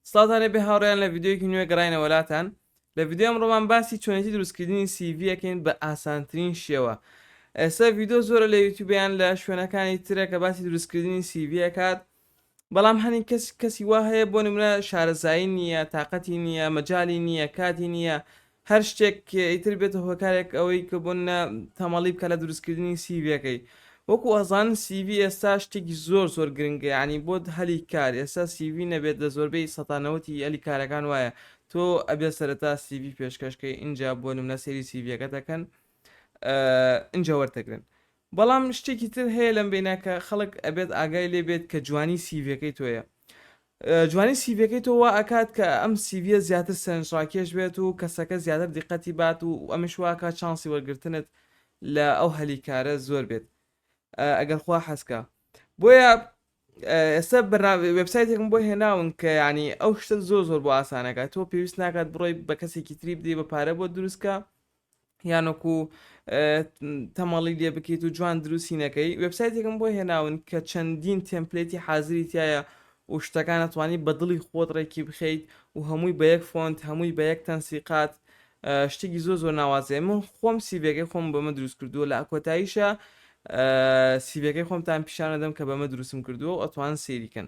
سڵاتان لێبێ هاوڕێیان لە ڤیددیوەکی نوێ گەڕینەوە لاتان لە ڤیددیو ئەمڕۆمان باسی چۆنێتی دروستکردنی سیڤیەکەین بە ئاسانترین شێوە ئێستا ڤیددیو زۆرە لە یوتوبیان لە شوێنەکانی ترە کە باسی دروستکردنی سیڤیەکات بەڵام هەنی کەس کەسی وا هەیە بۆ نمرە شارەزایی نییە تااقەتی نییە مەجای نییە کاتی نییە هەر شتێک ئیتر بێتە هۆکارێک ئەوەی کە بۆ نمونە تەمەڵی بکات لە دروستکردنی سیڤیەکەی وەکو ئەزان سیڤی ئێستا شتێکی زۆر زۆر گرنگە یانی بۆ هەلی کار ئێستا سیڤی نەبێت لە زۆربەی سەتا نەوەتی هەلی کارەکان وایە تۆ ئەبێت سەرەتا سیڤی پێشکەشکەی ئینجا بۆ نمونە سەیری سیڤیەکە دەکەن ئینجا وەرتەگرن بەڵام شتێکی تر هەیە لەم بیناکە خەڵک ئەبێت ئاگای لێبێت کە جوانی سیڤەکەی تۆیە جوانی سیڤیەکەی تۆ وا ئەکات کە ئەم سیڤیە زیاتر سەرنجڕاکێش بێت و کەسەکە زیاتر دیقەتی بات و ئەمەش وا ئەکات چانسی وەرگرتنت لە ئەو هەلی کارە زۆر بێت ئەگەر خوا حەز کا بۆیە ئێستا بەرنامە وێبسایتێکم بۆ هێناون کە یعنی ئەو شتە زۆر زۆر بۆ ئاسانەکە تۆ پێویست ناکات بڕۆی بە کەسێکی تری بدەی بە پارە بۆ دروستکە یان وەکو تەمەڵی لێ بکەیت و جوان دروستی نەکەی وبسایتێکم بۆ هێناون کە چەندین تمپلێتی حازری تایە و شتەکان ئەتوانی بە دڵی خۆت ڕێکی بخەیت و هەمووی بە یەک فۆنت هەمووی بە یەک تەنسیقات شتێکی زۆ زۆر ناوازێ من خۆم سیبێکی خۆم بەمە دروست کردووە لە ئەکۆتاییشە سیبەکەی خۆمتان پیشانەدەم کە بەمە دروستم کردووە و ئەتوان سێریکەن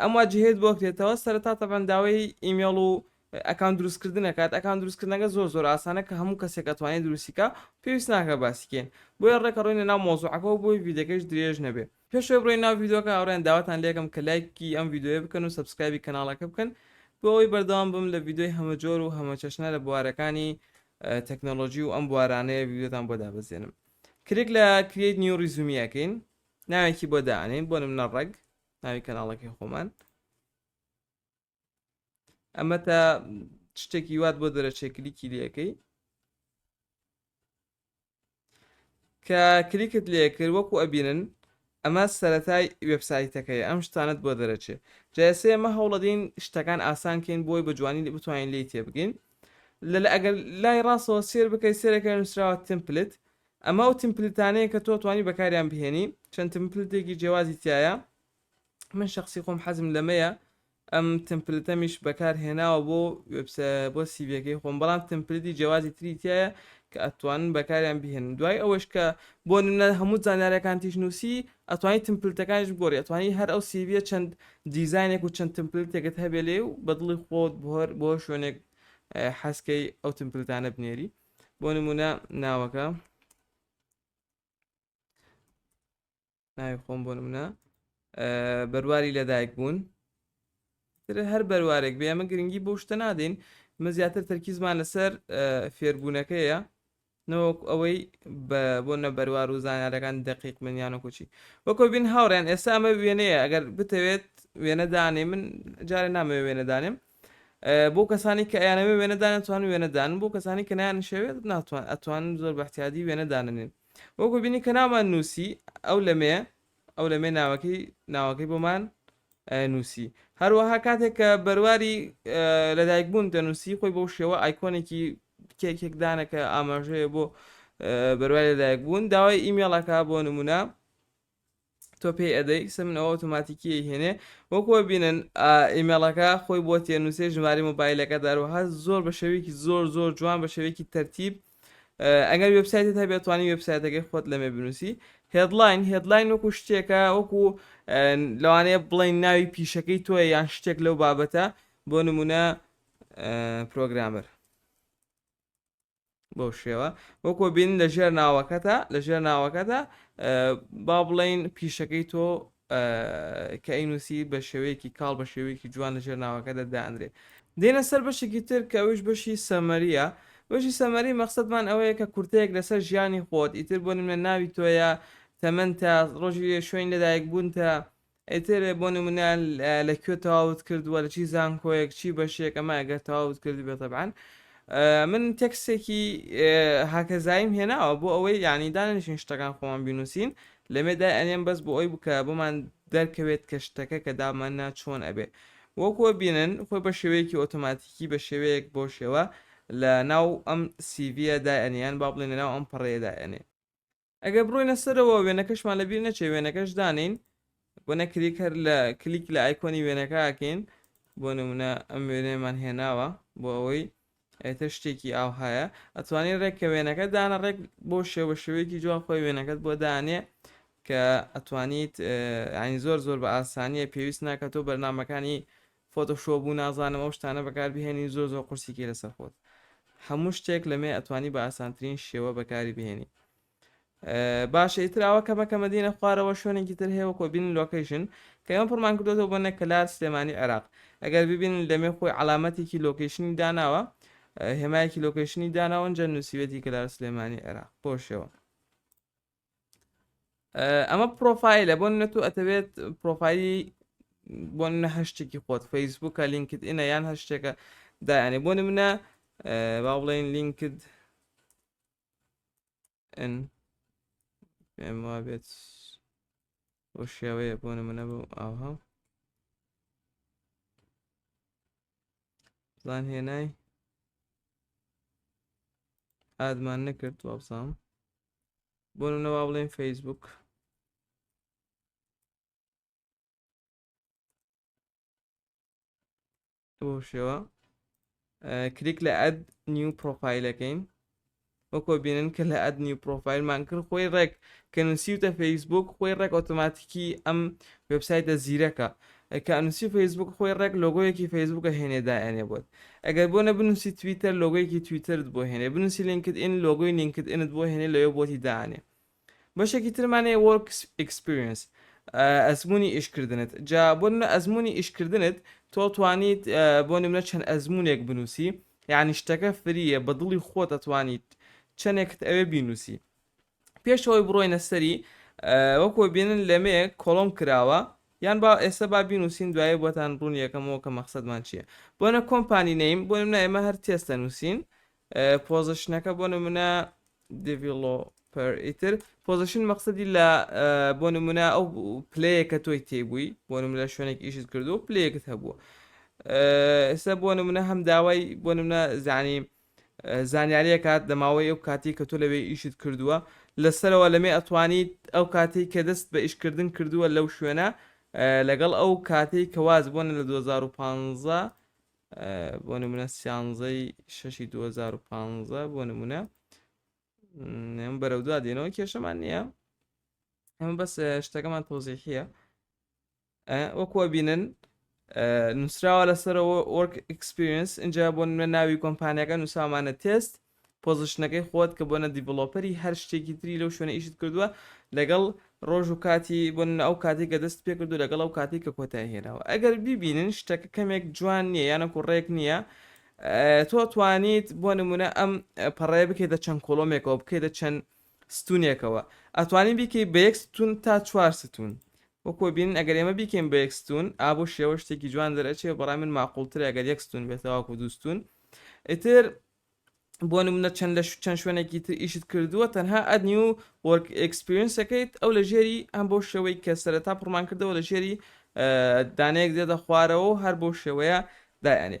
ئەم واجهەیەت بۆ کرێتەوە سەرەتا تەبەن داوای ئیمێڵ و ئەکان دروستکردن دەکات ئەکان دروستکردنەکە زۆر زۆر ئاسانە کە هەموو کەسێک ئەتوانێت دروستیکە پێویست ناکە باسیکەین بۆیە ڕێکە ڕۆینە ناو مۆزوعەکە و بۆی ڤیدەکەش درێژ نەبێ پێشوەی بڕۆین ناو ڤیددیوکە ئەوڕێن داواتان لێکم کە لایکی ئەم ڤیددیوە بکەن و سبسکرایبی کەناڵەکە بکەن بۆ ئەوی بەردەوام بم لە ڤیددیوی هەمەجۆر و هەمەچەشنە لە بوارەکانی تەکنۆلۆژی و ئەم بوارانەیە ڤیددیوتان بۆ دابەزێنم کرێک لە کرێت نیو ڕیزومیەکەین ناوێکی بۆ دانین بۆ نمنە ڕێک ناوی کەناڵەکەی خۆمان ئەمە تا شتێکی وات بۆ دەرەچێ کلیکی لەکەی کە کلیکت لێ کرد وەکو ئەبینن ئەمە سەتای وبسایتەکەی ئەم شتانت بۆ دەرەچێ جاسێ ئەمە هەوڵەدین شتەکان ئاسانکەین بۆی بە جوانی بتوانین لی تێبگەین لە ئەگەر لای ڕاستەوە سێر بکەیت سێرەکە نووسراوە تمپلت ئەمە ئەو تمپلتانەیە کە تۆ توانی بەکاریان بهێنی چەند تمپلتێکی جیوازی تایە من شخصی خۆم حەزم لەمەیە ئەم تمپلتەمیش بەکار هێناوە بۆ بۆ سیڤەکەی خۆم بەڵام تمپلتی جیوازی تری تایە کە ئەتوانن بەکاریان بهێن دوای ئەوەش کە بۆ نمە هەموو زانارەکان تیش نووسی ئەتوانی تمپلتەکانش گۆری ئەتوانی هەر ئەو سیڤە چەند دیزانێک و چەند تمپلتێکت هەبێ لێ و بەدڵی خۆت بۆهر بۆ شوێنێک حەزکەی ئەو تمپلتانە بنێری بۆ نمونە ناوەکە ناوی خۆم بۆ نمونە بەرواری لەدایک بوون هەر بەروارێک بێ ئەمە گرنگی بۆ شتە نادەین مە زیاتر تەرکیزمان لەسەر فێربوونەکەیە نەوەک ئەوەی بۆ نە بەروار و زانارەکان دقیق منیان و کوچی وەکۆ بین هاوڕێن ئێستا ئەمە وێنەیە ئەگەر بتەوێت وێنەدانێ من جارێ نامەوێ وێنەدانێم بۆ کەسانی کە ئەیانەوێ وێنە دانێن توانن وێنە دانن بۆ کەسانی کە نایانشەوێت ناتوان ئەتوانن زۆر بەحتیادی وێنە داننێن وەکو بینی کە نامان نووسی ئەو لەمێ ئەو لەمێ ناوەکەی ناوەکەی بۆمان نووسی هەروەها کاتێک کە بەرواری لەدایک بوون دەنووسی خۆی بۆ شێوە ئایکۆنێکی کێکێکدانەکە ئاماژەیە بۆ بەروای لەدایک بوون داوای ئیمێڵەکە بۆ نمونە تۆ پێی ئەدەی سە من ئەو ئۆتۆماتیکیەی هێنێ وەکو بینن ئیمێڵەکە خۆی بۆ تێنووسێ ژماری مۆبایلەکە داروها زۆر بە شێوەیەکی زۆر زۆر جوان بە شێوەیەکی تەرتیب ئەگەر وبسایتت هەبێت توانی وبسایتەکەی خۆت لەمێ بنووسی هێدلاین هێدلاین وەکو شتێکە وەکو لەوانەیە بڵین ناوی پیشەکەی تۆە یان شتێک لەو بابەتە بۆ نمونە پرۆگرامەر بەو شێوە وەکۆ بین لە ژێر ناوەکەتە لە ژێر ناوەکەدا با بڵین پیشەکەی تۆ کە ئەینوسی بە شێوەیەکی کاڵ بە شێوەیەکی جوان لە ژێر ناوەکە دەدانرێ دێنە سەر بەشێکی تر کە ئەوش بەشی سەمەریە بەشی سەمەری مەقصدمان ئەوەیە کە کورتەیەک لەسەر ژیانی خۆت ئیتر بۆ نمە ناوی تۆیە تەمەەن تا ڕۆژی شوێن لەدایک بوونتە ئیتر بۆ نمونە لە کوێ تەواوت کردووە لە چی زانکۆیەک چی بەشێک ئەمە گەر تەواوت کردبێت تەبعەن من تێکسێکی هاکەزاییم هێناوە بۆ ئەوەی یعنی دانیشین شتەکان خۆمان بینوسین لەمێدا ئەنێم بەس بۆ ئەوی بکە بۆمان دەرکەوێت کە شتەکە کە داماننا چۆن ئەبێ وەکوە بینن خۆی بە شێوەیەکی ئۆتۆماتیکی بە شێوەیەک بۆ شێوە لە ناو ئەم سیڤە دایەنیان با بڵێن لە ناو ئەم پەڕەیە دایەنێ ئەگەر بڕۆینە سەرەوە وێنەکەشمان لەبیر نەچێ وێنەکەش دانین بۆ نەکریک هەر لە کلیک لە ئایکۆنی وێنەکەکەین بۆ نمونە ئەم وێنەیەمان هێناوە بۆ ئەوەی ئێتە شتێکی ئاوهایە ئەتوانی ڕێک کە وێنەکە دانە ڕێک بۆ شێوە شێوەیەکی جوان خۆی وێنەکەت بۆ دانێ کە ئەتوانیت ئاین زۆر زۆر بە ئاسانیە پێویست ناکە تۆ بەرنمەکانی فۆتۆشۆپ و نازانم ئەو شتانە بەکار بهێنی زۆر زۆر قورسی کەی لەسەر خۆت هەموو شتێک لەمێ ئەتوانی بە ئاسانترین شێوە بەکاری بهێنی باشە ئیتر ئەوە کەمە کەمە دینە خوارەوە شوێنێکی تر هەیە وەکۆ بین لۆکەیشن کە ئەم پڕمان کردوەوە بۆ نەکەلار سلێمانی عێراق ئەگەر ببین لەمێ خۆی علامەتێکی لۆکەیشنی داناوە هێمایەکی لۆکەیشنی داناوەنجە نووسیوێتی کەلار سلێمانی عێراق بۆ شێوە ئەمە پرۆفایلە بۆن نە تۆ ئەتەوێت پرۆفایلی بۆ نە هەشتێکی خۆت فەیسبووکە لینکت ئینە یان هەر شتێکە دایانێ بۆ منە با بڵێن لینکت پێم وا بێت بۆ شێوەیە بۆ منە بۆ ئاها زان هێنای ئادمان نەکرد وابزانم بۆ نەوا بڵێن فەیسبوک بۆ شێوە کلیک لە ئەد نیو پرۆفایلەکەین وەکۆ بینن کە لە ئەد نیو پرۆفایلمان کرد خۆی ڕێک کە نووسیوتە فەیسبوک خۆی ڕێک ئۆتۆماتیکی ئەم وبسایتە زیرەکە ئەی کە ئەنوسی فەیسبوک خۆی ڕێک لۆگۆیەکی فەیسبوک ئەهێنێ دائەنێ بۆت ئەگەر بۆ نە بنوسی تویتەر لۆگۆیەکی تویتەرت بۆ هێنێ بنوسی لینکد ئین لۆگۆی لینکد ئینت بۆ هێنێ لەوێ بۆتی دائەنێ بەشێکی ترمان هەیە وۆرک ئیکسپریەنس ئەزمونی ئیشکردنت جا بۆ نمونە ئەزمونی ئیشکردنت تۆ توانیت بۆ نمونە چەند ئەزمونێک بنوسی یعنی شتەکە فریە بە دڵی خۆت ئەتوانیت چەندێکت ئەوێ بینوسی پێش ئەوەی بڕۆینە سەری وەکۆ بینن لەمێ کۆڵۆم کراوە یان با ئێستا با بینوسین دوایە بۆتان ڕوون یەکەمەوە کە مەخصدمان چییە بۆنە کۆمپانی نیم بۆ منە ئێمە هەر تێستە نووسین پۆزشنەکە بۆ نمونە دیڤڵۆپەر ئیتر پۆزشن مەقصدی لە بۆ نمونە ئەو پلەیەکە تۆی تێبووی بۆ نم لە شوێنێک ئیشت کردو پلەیەکت هەبووە ئێستا بۆ نمونە هەم داوای بۆ نمونە زانیم زانیاریەکات لە ماوەی ئەو کاتەی کە تۆ لەوێ ئیشت کردووە لە سەرەوە لەمێ ئەتوانیت ئەو کاتەی کە دەست بە ئیش کردن کردووە لەو شوێنە لەگەڵ ئەو کاتەی کە واز بۆنە لە 2015 بۆ نمونە سیانزەی شەشی 2015 بۆ نمونە نێم بەرەو دوا دێنەوە کێشەمان نییە ئەمە بەس شتەکەمان تۆزیحە وەکو ئەبینن نووسراوە لەسەرەوە وەرک ئکسپریس اینجا بۆ نمە ناوی کۆمپانیەکە نووسامانە تێست پۆزشنەکەی خۆت کە بۆنە دیڤڵۆپەری هەر شتێکی تری لەو شوێنە ئیشت کردووە لەگەڵ ڕۆژ و کاتی بۆ ئەو کاتی کە دەست پێ کردو لەگەڵ ئەو کاتی کە کۆتای هێناوە ئەگەر ببینن شتەکە کەمێک جوان نییە یانە کوڕێک نییە تۆ توانیت بۆ نمونە ئەم پەڕێ بکەیتە چەند کۆلۆمێکەوە بکەیتە چەند ستونێکەوە ئەتوانی بیکەی بە یەک ستون تا چوار ستون وەکۆ بینن ئەگەر ئێمە بیکەین بە یەک ستون ئا بۆ شێوە شتێکی جوان دەرئەچێ بەڕای من ماقولترە ئەگەر یەک ستون بێت تاوەکو دوو ستون ئیتر بۆ نمونە چەند لە چەند شوێنێکی تر ئیشت کردووە تەنها ئەدنی و وەرک ئەکسپیرینسەکەیت ئەو لە ژێری ئەم بۆ شێوەی کە سەرەتا پڕمان کردەوە لە ژێری دانەیەک دێتە خوارەوە و هەر بۆ شێوەیە دایانێ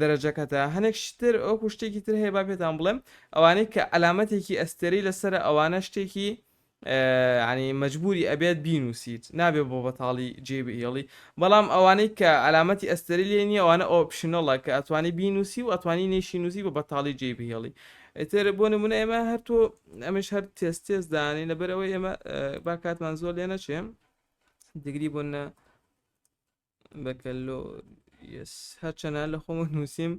دەرەجەکەتە هەنێک شتر ئەوکو شتێکی تر هەیە با پێتان بڵێم ئەوانەی کە ئەلامەتێکی ئەستێرەی لەسرە ئەوانە شتێکی ینی مەجبوری ئەبێت بینوسیت نابێ بۆ بەتاڵی جێ بهێڵی بەڵام ئەوانەی کە ئەلامەتی ئەستێری لێ نیە ئەوانە ئۆپشنەڵە کە ئەتوانی بینوسی و ئەتوانی نێشی نووسی بە بەتاڵی جێ بهێڵی ئەتر بۆ نمونە ئێمە هەرتۆ ئەمش هەر تێست تێست دانین لەبەرەوەی ئێمە با کاتمان زۆر لێ نەچێم دگری بۆ نە بەکەلۆریەس هەرچەنە لە خۆمە نووسیم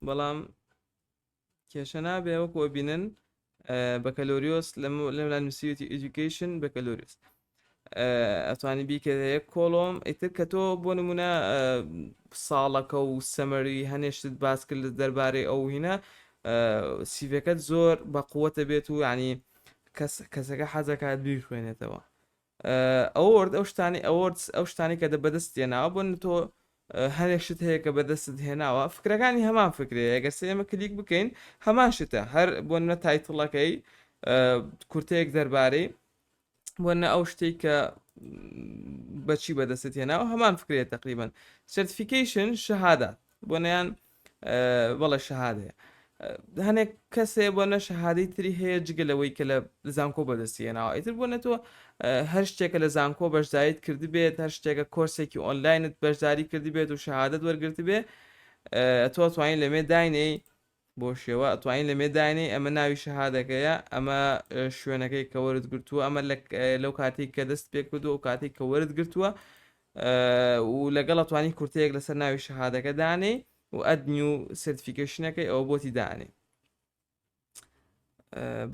بەڵام کێشە نابێ وەکو بینن بەکەلۆریۆس لەملا نووسیوتی ئیدوکیشن بەکەلۆریس ئەتوانی بیکە هەیە کۆڵۆم ئیتر کە تۆ بۆ نمونە ساڵەکە و سەمەری هەنێشتت باس کرد دەربارەی ئەو هینە سیڤەکەت زۆر بە قووەتە بێت و ینی کەسەکە حەزەکات بیخوێنێتەوە ئەوۆرد ئەو شتانەی ئەوۆردس ئەو شتانەی کە دە بەدەست تێناوە بۆ نە تۆ هەرێک شت هەیە کە بەدەستت هێناوە فکرەکانی هەمان فکرەیە ئەگەر سێ ئێمە کلیک بکەین هەمان شتە هەر بۆ نە تایتڵەکەی کورتەیەک دەربارەی بۆ نە ئەو شتێک کە بەچی بەدەستت هێناوە هەمان فکرێت تقریبن سرتفیکیشن شەهادات بۆ نیان بەڵێ شەهادەیە هەنێک کەسێ بۆ نە شەهادەی تری هەیە جگە لەوەی کە لە زانکۆ بەدەستیە ناوە ئیتر بۆ نە تۆ هەر شتێکە لە زانکۆ بەشداریت کردی بێت هەر شتێکە کۆرسێکی ئۆنلاینت بەشداری کردی بێت و شەهادت وەرگرت بێ تۆ توانین لەمێ داینەی بۆ شێوە توانین لەمێ داینەی ئەمە ناوی شەهادەکەیە ئەمە شوێنەکەی کەوەرت گرتووە ئەمە لەو کاتێک کە دەست پێکردو و کاتێک کەوەرت گرتووە و لەگەڵ ئەتوانی کورتەیەک لەسەر ناوی شەهادەکە دانێی و ئەد نیو سرتفیکشنەکەی ئەوە بۆتی دانێ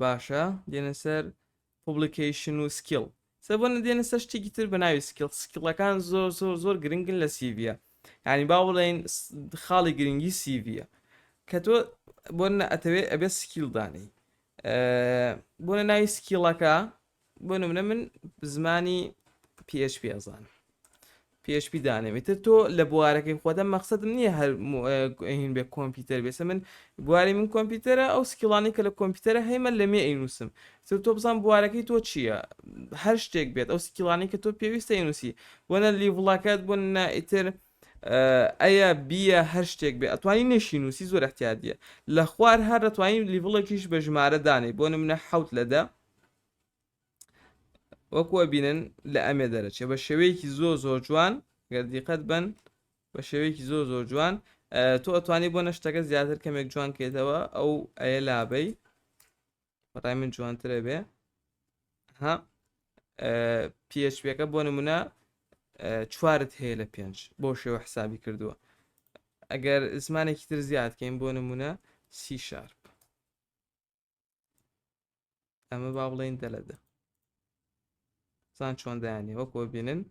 باشە دێنە سەر پوبلیکیشن و سکیل سە بۆ نەدێنە سەر شتێکی تر بە ناوی سکیل سکیڵەکان زۆر زۆر زۆر گرنگن لە سیڤە ینی با بڵێن خاڵی گرنگی سیڤە کە تۆ بۆ ئەتەوێت ئەبێت سکیل دانێی بۆە ناوی سکیڵەکە بۆ نمونە من زمانی PHP ئەزانم PHP دانێم ئیتر تۆ لە بوارەکەی خۆدە مەخصدم نییە هەر هین بێ کۆمپیوتەر بێسە من بواری من کۆمپیوتەرە ئەو سکیڵانی کە لە کۆمپیوتەرە هەیمە لە مێ ئینوسم تر تۆ بزان بوارەکەی تۆ چییە هەر شتێک بێت ئەو سکیڵانی کە تۆ پێویستە ئینوسی بۆنە لیڤڵەکەت بۆ نە ئیتر ئەیە بیە هەر شتێک بێ ئەتوانی نشی نووسی زۆر احتیادیە لە خوار هەر دەتوانین لیڤڵێکیش بە ژمارە دانێ بۆ نمونە حوت لەدە وەکو ئەبینن لە ئەمێ دەرەچێ بە شێوەیەکی زۆ زۆ جوان گەر دیقەت بن بە شێوەیەکی زۆ زۆ جوان تۆ ئەتوانی بۆ نەشتەکە زیاتر کەمێک جوان کێتەوە ئەو ئەیە لابەی بەڕای من جوانترە بێ ها پێچپێکە بۆ نمونە چوارت هەیە لە پێنج بۆ شێوە حسابی کردووە ئەگەر زمانێکی تر زیادکەین بۆ نمونە سی شارپ ئەمە با بڵێن دە لە دە سان چۆن دایانێ وەکۆ بینن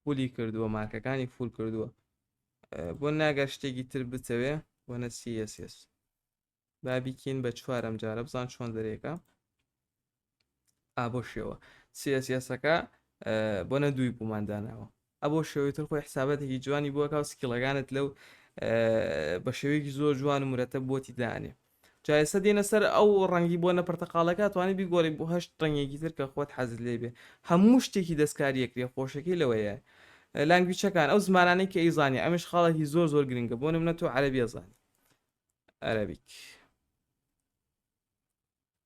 پولی کردووە مارکەکانی فول کردووە بۆ ناگە شتێکی تر بتەوێ وەنە سیس بابیکین بە چوارم جارە بزان چۆن دەرێکە ئابۆ شێوە سیاسیاسەکە بۆ نە دووی بوومان داناوە ئەبۆ شێوەی تر خۆی حسابەتێکی جوانی بووەکە و سکیڵەکانت لەو بە شێوەیەکی زۆر جوان و مرەتە بۆتی دانێ جایسە دێنە سەر ئەو ڕەنگی بۆ نە پرتەقالەکە توانانی بیگۆڕی بۆ هەشت ڕنگێکی تر کە خۆت حەزت لێ بێ هەموو شتێکی دەستکاریەکرێ خۆشەکەی لەوەیە لانگویچەکان ئەو زمانانی کە ئەیزانانی ئەمش خاڵێکی زۆر زۆر گرنگە بۆ نمە تۆ عەربیە زانانی عەربیک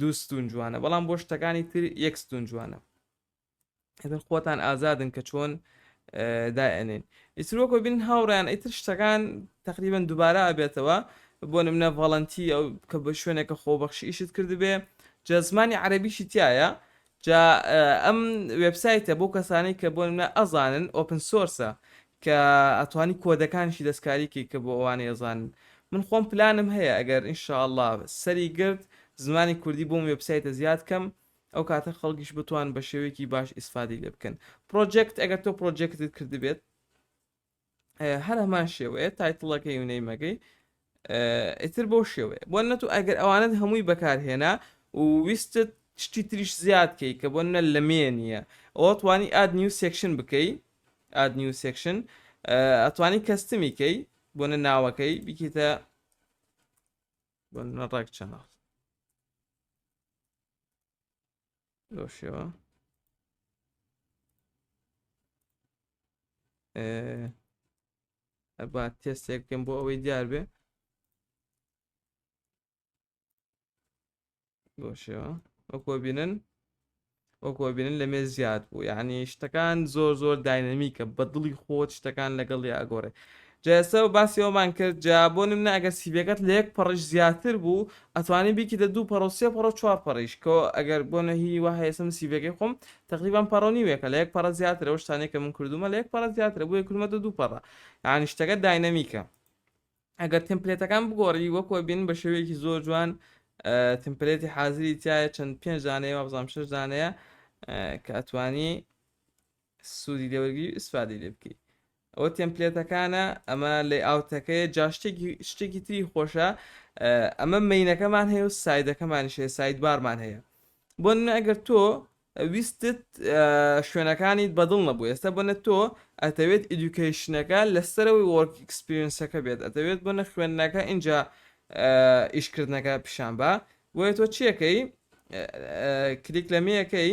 دوو ستون جوانە بەڵام بۆ شتەکانی تر یەک ستون جوانە ئەتر خۆتان ئازادن کە چۆن دائێنین ئیترۆکۆ بین هاوڕیان ئیتر شتەکان تقریبان دووبارە ئەبێتەوە بۆ نمنە ڤڵەنتی ئەو کە بە شوێنێکە خۆبەخشی ئیشت کردبێ جە زمانی عەربیشی تایە جا ئەم وێبسایتە بۆ کەسانەی کە بۆ نمونە ئەزانن ئۆپن سۆرسە کە ئەتوانی کۆدەکانیشی دەستکاری کەی کە بۆ ئەوانەی ئەزانن من خۆم پلانم هەیە ئەگەر ان شاء اللە سەری گرت زمانی کوردی بۆم وێبسایتە زیاد کەم ئەو کاتە خەڵکیش بتوان بە شێوەیەکی باش ئیسفادەی لێ بکەن پڕۆجێکت ئەگەر تۆ پڕۆجێکتت کردبێت هەر هەمان شێوەیە تایتڵەکەی و نەیمەکەی ئیتر بۆ شێوەیە بۆ نەت و ئەگەر ئەوانت هەمووی بەکارهێنا و ویستت شتی تریش زیاد کەی کە بۆ نە لە مێ نییە ئەوە توانی ئاد نیو سێکشن بکەی ئاد نیو سێکشن ئەتوانی کەستمی کەی بۆ نە ناوەکەی بکیتە بۆ نەڕێک چەناڵ لەو شێوە ئەبا تێستێک بکەم بۆ ئەوەی دیار بێ بۆ شێوە وەکۆ بینن وەکۆ بینن لە مێ زیاد بوو یعنی شتەکان زۆر زۆر داینەمیکە بە دڵی خۆت شتەکان لەگەڵ یاگۆڕێ جەلسە و باسی ئەوەمان کرد جا بۆ نمونە ئەگەر سیڤیەکەت لە یەک پەڕیش زیاتر بوو ئەتوانی بیکیتە دوو پەڕ و سێ پەڕ و چوار پەڕیش کە ئەگەر بۆ نە هی وا هەیە ئێستا من سیڤیەکەی خۆم تەقریبەن پەڕ و نیوێکە لە یەک پەڕە زیاترە ئەو شتانەی کە من کردوومە لە یەک پەڕە زیاترە بۆیە کردمەتە دوو پەڕە یانی شتەکە داینەمیکە ئەگەر تمپلێتەکان بگۆڕی وەکو ئەبین بە شێوەیەکی زۆر جوان تمپلێتی حازری تایە چەند پێنج دانەیە وابزانام شش دانەیە کە ئەتوانی سودی لێ وەرگری و ئیسفادەی لێ بکەی ئەوە تێمپلێتەکانە ئەمە لەی ئاوتەکەی جا شتێکی شتێکی تری خۆشە ئەمە مینەکەمان هەیە و سایدەکەمانی شێ سایدبارمان هەیە بۆ نە ئەگەر تۆ ویستت شوێنەکانی بەدڵ نەبوو ئێستا بۆ نە تۆ ئەتەوێت ئیدوکیشنەکە لەسەرەوەی وەرک ئەکسپیرینسەکە بێت ئەتەوێت بۆ نە خوێندنەکە اینجا ئیشکردنەکە پیشان بە بۆیە تۆ چیەکەی کلیک لەمەیەکەی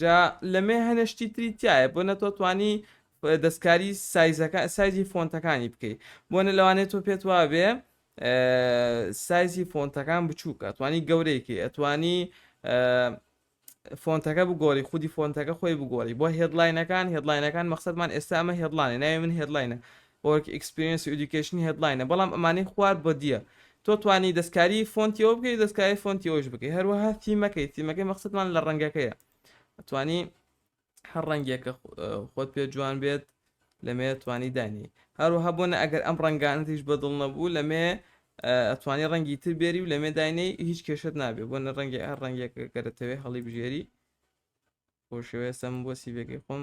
جا لەمێ هەنێ شتی تری تایە بۆ نەتۆ توانی دەستکاری سایزەکە سایزی فۆنتەکانی بکەیت بۆنە لەوانێت تۆ پێت وابێ سایزی فۆنتەکان بچووکە توانی گەورەیەکی ئەتوانی فۆنتەکە بگۆری خودی فۆنتەکە خۆی بگۆری بۆ هێدلاینەکان هێدلاینەکان مەخصدمان ئێستا ئەمە هێدلانێ ناوی من هێدلاینە وۆرک ئیکسپیرینس و ئیدوکەیشن هێدلاینە بەڵام ئەمانەی خوار بۆدیە تۆ توانی دەستکاری فۆنتی ئەوە بکەی دەستکاری فۆنتی ئەوش بکەی هەروەها تیمەکەی تیمەکەی مەقصدمان لە ڕەنگەکەیە ئەتوانی هەر ڕەنگێکە خۆت پێ جوان بێت لەمێ توانی دانی هەروەها بۆنە ئەگەر ئەم ڕەنگانتیش بەدڵ نەبوو لەمێ ئەتوانی ڕەنگی تر بێری و لەمێ داینەی هیچ کێشت نابێ بۆنە ڕەنگی هەر ڕەنگێکەکە دەتەوێت هەڵی بژێری بۆ شێوەیە سەم بۆ سیڤەکەی خۆم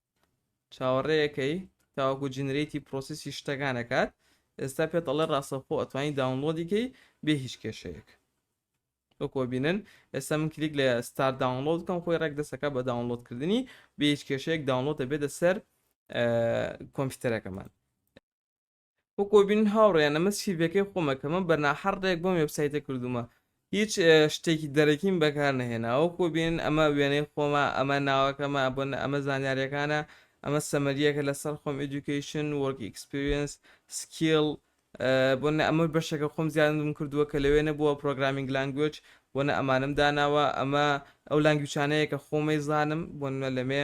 چاوەڕێکەی تاوەکو جنرەیتی پرۆسیسی شتەکان ئەکات ئێستا پێت ئەڵێ ڕاستەوخۆ ئەتوانی داونلۆدی کەی بێ هیچ کێشەیەک وەکۆ بینن ئێستا من کلیک لە ستار داونلۆد کەم خۆی ڕێک دەسەکە بە داونلۆدکردنی بێ هیچ کێشەیەک داونلۆدە بێتە سەر کۆمپیوتەرەکەمان وەکۆ بینن هاوڕێیان ئەمە سیڤەکەی خۆمە کە من بە ناحەڕق بەم وێبسایتە کردوومە هیچ شتێکی دەرەکیم بەکار نەهێنا وەکۆ بینن ئەمە وێنەی خۆمە ئەمە ناوەکەمە بۆنە ئەمە زانیاریەکانە ئەمە سەمەریەکە لەسەر خۆم ئیدوکەیشن وۆرک ئیکسپریەنس سکیڵ بۆنە ئەمە بەشەکە خۆم زیادم کردووە کە لەوێ نەبووە پرۆگرامینگ لانگوێج بۆنە ئەمانم داناوە ئەمە ئەو لانگویچانەیە کە خۆمەی زانم بۆنە لەمێ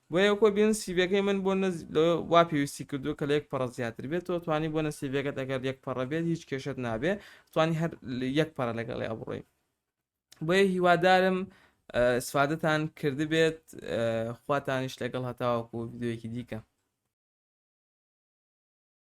بۆیە کۆ بێن سیڤەکەی من بۆ نە وا پێویستی کردو کە لە یەک پەڕە زیاتر بێت تۆ توانی بۆ نە سیڤەکەت ئەگەر یەک پەڕە بێت هیچ کێشت نابێ توانی هەر یەک پەڕە لەگەڵی ئەبڕۆی بۆیە هیوادارم سفادتان کردبێت خواتانیش لەگەڵ هەتاوەکو یددیوەکی دیکە